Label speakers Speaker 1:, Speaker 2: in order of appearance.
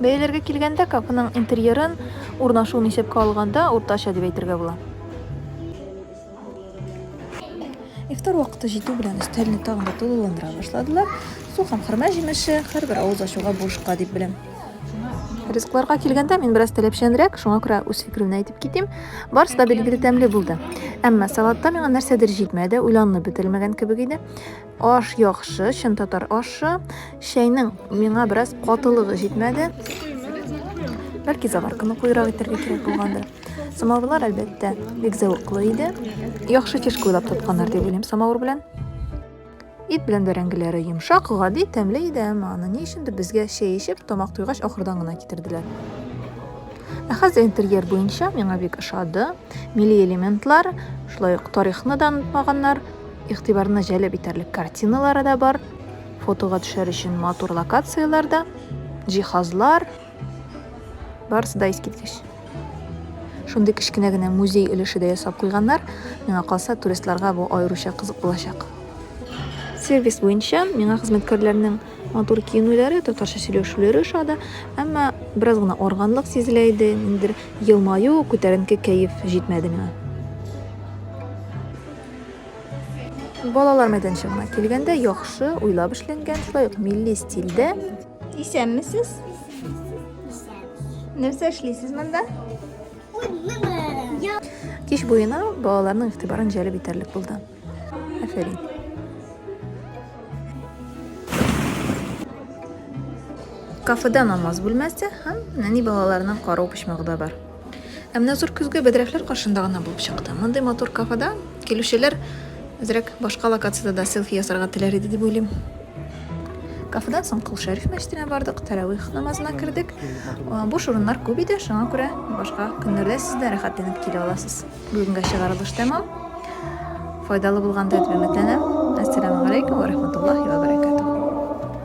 Speaker 1: Бәяләргә килгәндә, кафеның интерьерын, урнашуын исәпкә алганда, уртача дип әйтергә була. Ифтар вакыты җитү белән өстәлне тагын да тулыландыра башладылар. Су һәм хөрмә җимеше, һәрбер авыз ачуга бушка дип беләм. Ризыкларга килгәндә, мин бераз таләпчәнрәк, шуңа күрә үз фикеремне әйтеп китим. Барысы да билгеле тәмле булды. Әмма салатта миңа нәрсәдер җитмәде, уйланылып бетерелмәгән кебек иде. Аш яхшы, чын татар ашы. Чәйнең миңа бераз катылыгы җитмәде. Бәлки заварканы куйрак итәргә кирәк булгандыр. Самавырлар, әлбәттә, бик зәвыклы иде. Яхшы теш куйлап тотканнар дип уйлыйм самавыр белән. Ит белән бәрәңгеләре йомшак, гади, тәмле иде, әмма аны ни өчендер безгә чәй эчеп, тамак туйгач ахырдан гына китерделәр. Ә хәзер интерьер буенча миңа бик ошады. Милли элементлар, шулай ук тарихны да онытмаганнар. Игътибарны җәлеп итәрлек картиналары да бар, фотога төшәр өчен матур локацияләр дә, җиһазлар. Барысы да искиткеч. Шундый кечкенә генә музей өлеше дә ясап куйганнар. Миңа калса, туристларга бу аеруча кызык булачак. Сервис буенча миңа хезмәткәрләрнең матур киенүләре, татарча сөйләшүләре ошады, әмма бераз гына органлык сизелә иде, ниндидер елмаю, күтәренке кәеф җитмәде миңа. Балалар мәйданчыгына килгәндә яхшы уйлап эшләнгән, шулай ук милли стильдә. Исәнмесез? Нәрсә эшлисез монда? Кич буена балаларның игътибарын җәлеп итәрлек булды. Афәрин. Кафеда намаз бүлмәсе һәм нәни балаларның карау почмагы да бар. Ә менә зур көзге бәдрәфләр каршында гына булып чыкты. Мондый матур кафеда килүчеләр әзрәк башка локациядә дә селфи ясарга теләр иде дип уйлыйм. Кафедан соң Кол Шәриф мәчетенә бардык, тәравих намазына кердек. Буш урыннар күп иде, шуңа күрә башка көннәрдә сез дә рәхәтләнеп килә аласыз. Бүгенгә чыгарылыш тәмам. Файдалы булган дип өметләнәм. Ассаламу алейкум ва рахматуллахи ва баракатух.